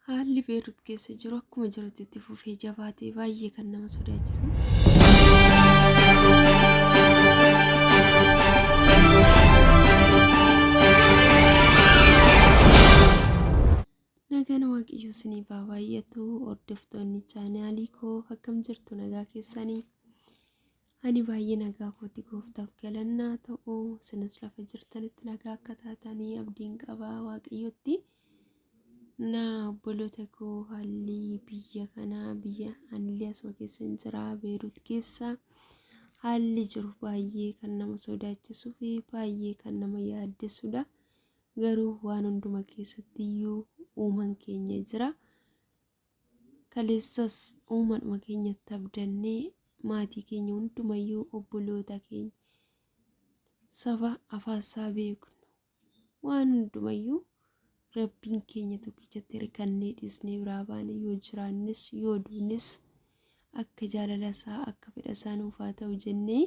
Haalli Beerut keessa jiru akkuma jirutti itti fufee jabaatee baay'ee kan nama sodaachisu. Nagaan Waaqayyoo isiniif haa baay'atu hordoftoonni chaanaalii koo akkam jirtu nagaa keessanii Ani baay'ee nagaa kooti gooftaaf galannaa ta'u sinis lafa jirtanitti nagaa akka taatanii abdiin qabaa waaqayyotti na obboloota koo haalli biyya kanaa biyya anillee asuma keessa hin jira beeruut keessa haalli jiru baay'ee kan nama sodaachisuu fi baay'ee kan nama yaaddesudha garuu waan hunduma keessatti iyyuu uuman keenya jira Kaleessas uumaadhuma keenyatti abdannee maatii keenya hundumayyuu obboloota keenya saba afaansaa beeknu waan hundumayyuu rabbiin keenya tokkichatti hirkannee dhiisnee biraa baane yoo jiraannes yoo duunes akka jaalala isaa akka fedha isaa nuuf haa ta'u jennee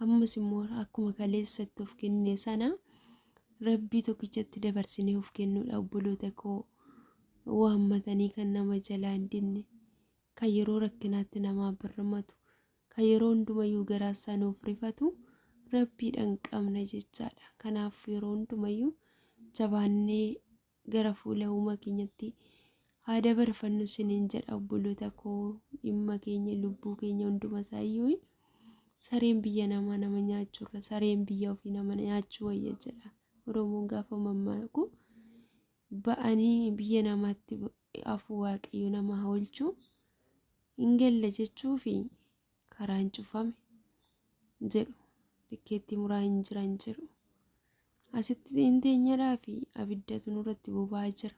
ammas immoo akkuma kaleessa itti of kennine sana rabbii tokkichatti dabarsinee of kennuudha obboloota koo waammatanii kan nama jalaa hin dinne kan yeroo rakkinaatti namaa birmatu kan yeroo hundumayyuu garaa isaa nuuf rifatu rabbiidhaan qabna jechaadha kanaaf yeroo hundumayyuu jabaannee gara fuula uumaa keenyatti haa dabarfannu sinin jedha obboloota koo dhimma keenya lubbuu keenya hunduma isaayyuu sareen biyya namaa nama nyaachurra sareen biyya ofii nama nyaachuu wayya jedha oromoon gaafa mammaaku ba'anii biyya namaatti afuu waaqayyo nama haa oolchu hin galle jechuufi karaan cufame jedhu tikkeettii muraa hin jiran jedhu asitti hin teenyadhaa fi abiddatu nurratti boba'aa jira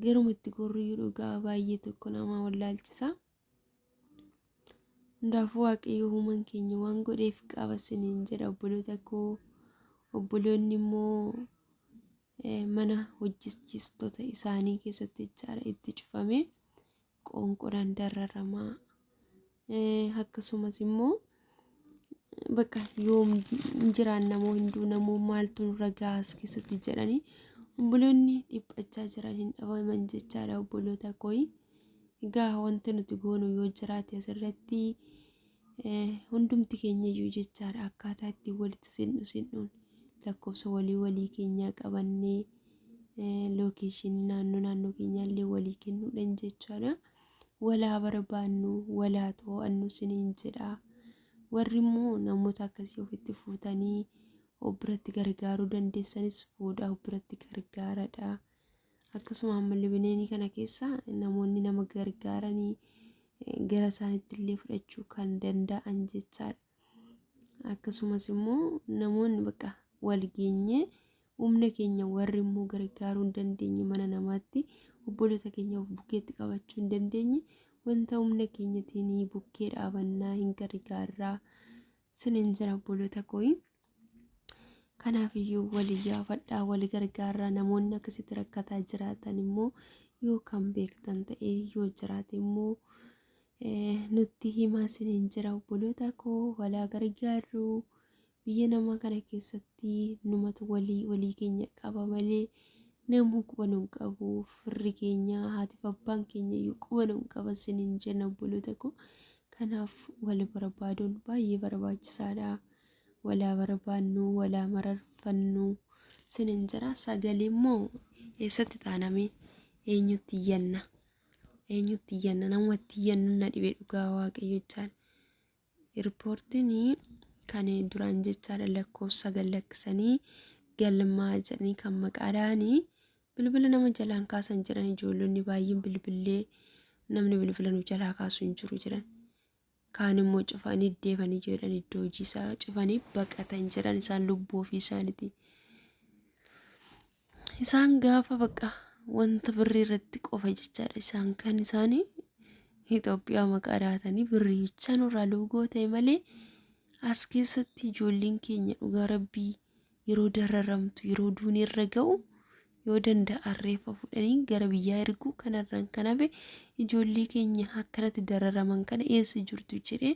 garuma itti gorriyyuu dhugaa baay'ee tokko nama wallaalchisa hundaafuu waaqayyo uumaan keenya waan godheef qaba siniin jedha obboloota koo obboloonni immoo eh, mana hojjechiistota isaanii keessatti jechaadha itti cufame qoonqodhaan dararama. Akkasumas immoo bakka yoom jiraan namoo hunduu namoo maaltu nurra gahaa as keessatti jedhanii obboloonni dhiphachaa jiran hin dhabaman jechaadha obboloota kooyi. Egaa wanti nuti goonu yoo jiraate asirratti Hundumti keenyayyuu jechaadha akkaataa ittiin walitti sin'u sin'uun lakkoofsa walii walii keenyaa qabannee lookeeshinii naannoo naannoo keenyaallee walii kennuudhaan jechaadha. Walaa barbaannu walaa to'annu siniin jedha. Warri immoo namoota akkasii ofitti fuutanii of biratti gargaaruu dandeessanis fuudhaa of biratti gargaaradha. Akkasuma ammallee bineenii kana keessa namoonni nama gargaaranii gara isaaniitti illee fudhachuu kan danda'an jechaadha. Akkasumas immoo namoonni bakka wal geenyee humna keenya warri immoo gargaaruu hin dandeenye mana namaatti obboloota keenya of bukkeetti qabachuu hin dandeenye wanta humna keenyatiin bukkee dhaabannaa hin gargaarraa sinin jira obboloota kooyi. Kanaafiyyuu walii yaafadhaa walii gargaarraa namoonni akkasitti rakkataa jiraatan immoo yoo kan beektan ta'e yoo jiraate immoo nutti himaa sinin jira obboloota koo walaa gargaarru biyya namaa kana keessatti numatu walii walii keenya qaba malee namuu quba nu hin qabu firri keenya haatiif abbaan keenya iyyuu quba nu hin qaban sinin jenna obboloota koo Kanaaf wal barbaaduun baay'ee barbaachisaadha. Wal haa barbaannu, wal haa mararfannu sinin jira. Sagalee immoo eessatti taaname eenyutti iyyanna? Eenyutti iyyanna? Namatti iyyannu na dhibe dhugaa waaqayyo jechaan. Riippoortiin kan duraan jechaadha lakkoofsa gallakkisanii galmaa jedhanii kan maqaadhaanii Bilbila nama jalaan kaasan jedhan ijoollonni baay'een bilbillee namni bilbila nu jalaa kaasu hin jiru jedhan. Kaan immoo cufanii deebanii jedhan iddoo hojii isaa cufanii baqatan jedhan isaan lubbuu ofii isaaniiti. Isaan gaafa baqa wanta birrii irratti qofa jechaadha isaan kan isaanii Itoophiyaa maqaa dhaatanii birrii bichaa nurraa luugoo ta'e malee as keessatti ijoolleen keenya dhugaa rabbii yeroo dararamtu yeroo duuni irra ga'u yoo danda'an reeffa fudhanii gara biyyaa erguu kanarraan kan hafe ijoollee keenya akkanatti dararaman kana eessa jirtu jedhee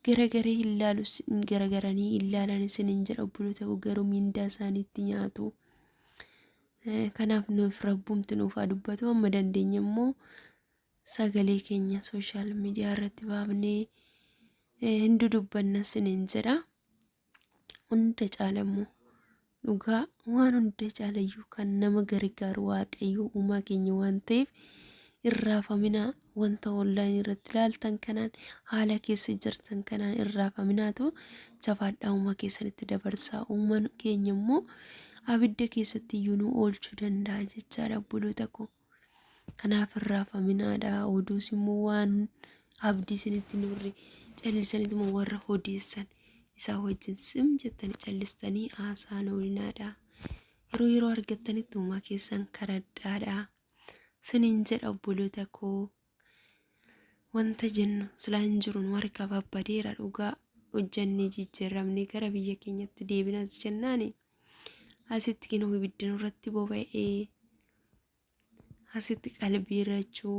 garagaree hin laalu sin- garagaranii hin laalan isin hin jedha obboloota koo garuu miindaa isaaniitti nyaatu. Eh, Kanaaf nuuf rabbumti nuuf haa dubbatu amma dandeenye immoo sagalee keenya sooshaal miidiyaa irratti baafnee eh, hin dudubbanna sin hin jedha. hunda caala immoo dhugaa waan hunda caalayyuu kan nama gargaaru waaqayyoo uumaa keenya waan ta'eef irraafaminaa wanta online irratti ilaaltan kanaan haala keessa jirtan kanaan irraafaminaatu jabaadhaa uumaa keessanitti dabarsaa uumaan keenya immoo abidda keessatti iyyuu nu oolchuu danda'a jechaadha obboloota koo. Kanaaf hin raafaminaadha. Oduus immoo waan abdii isinitti hin horre callisaniitu immoo warra odeessan isaa wajjin sim jettanii callistanii haasaan oolinaadha. Yeroo yeroo argattanitti uumaa keessan karadhaadha. Sinin jedha obboloota koo wanta jennu silaa hin jiru nu harkaa babbadeera dhugaa hojjannee jijjiirramnee gara biyya keenyatti deebinas jennaani asitti kinoo ibiddi nurratti boba'ee asitti qalbii irrachuu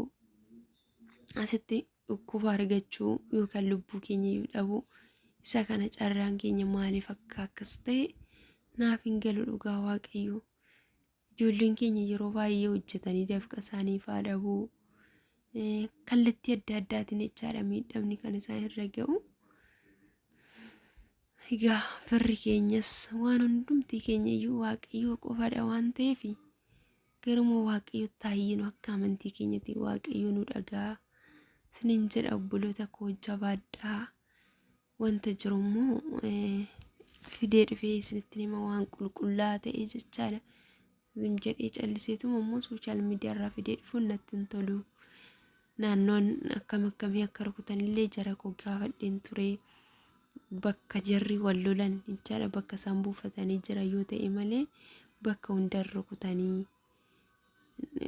asitti dhukkuba argachuu yookaan lubbuu keenya iyyuu dhabuu isa kana carraan keenya maaliif akka akkas ta'e naaf hin galu dhugaa waaqayyoo. Ijoolleen keenya yeroo baay'ee hojjetanii dafqa isaanii faa dhabuu kallattii adda addaatiin jechaadha miidhamni kan isaan irra ga'u. Egaa firri keenyas waan hundumtii keenya iyyuu waaqayyoo qofadha waan ta'eef garuma waaqayyoo taayyinu akka amantii keenyatti waaqayyoo nu dhagaa sinin jedha obboloota koo jabaadhaa wanta jiru immoo fidee dhufee isinitti hima waan qulqullaa ta'e jechaadha. Zim jedhee calliseetuma immoo sooshaal miidiyaa irraa fidee dhufuun natti hin tolu. Naannoon akkam akkamii akka rukutan illee jara koo gaafadheen ture. Bakka jarri wal lolan jechaadha bakka isaan buufatanii jira yoo ta'e malee bakka hundan rukutanii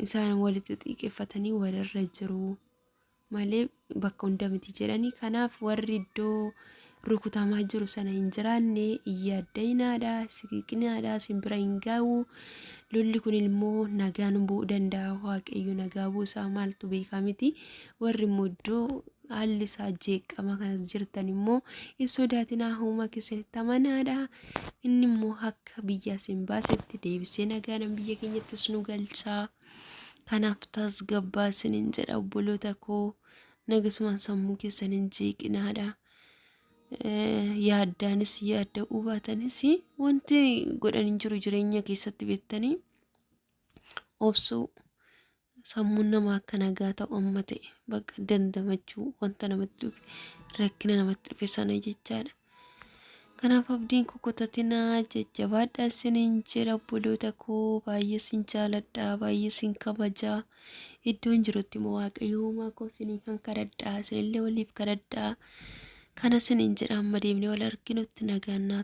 isaan walitti xiiqeffatanii walirra jiru. malee bakka hunda miti jedhanii kanaaf warri iddoo rukutamaa jiru sana hin jiraanne hin yaaddayinaadha siqiqinaadha simbira hin gaa'u lolli kun immoo nagaan bu'uu danda'a waaqayyo nagaa buusaa maaltu beekaa miti warri immoo iddoo haalli isaa jeeqama kanas jirtan immoo hin sodaatinaa humna keessanitti amanaadha inni immoo akka biyya isin baasetti deebisee nagaanan biyya keenyattis nu galchaa. Kanaaf tasgabbaa isinin jedha obboloota koo nagasumaan sammuu keessan hin jeeqinaadha. Yaaddaanis yaadda hubaatanis wanti godhan hin jiru jireenya keessatti beektanii obsuu sammuun nama akka nagaa ta'u amma ta'e bakka dandamachuu wanta namatti dhufe rakkina namatti dhufe sana jechaadha. Kanaaf abdiin kukutatinaa jajjabaadha isiniin jedha obboloota koo baay'ee sin jaaladha baay'ee sin kabaja iddoon jirutti immoo waaqayyo uumaa koo isiniin kan kadhadha isinillee waliif kadhadha kana isiniin jedha amma deemnee wal arginutti nagaan naa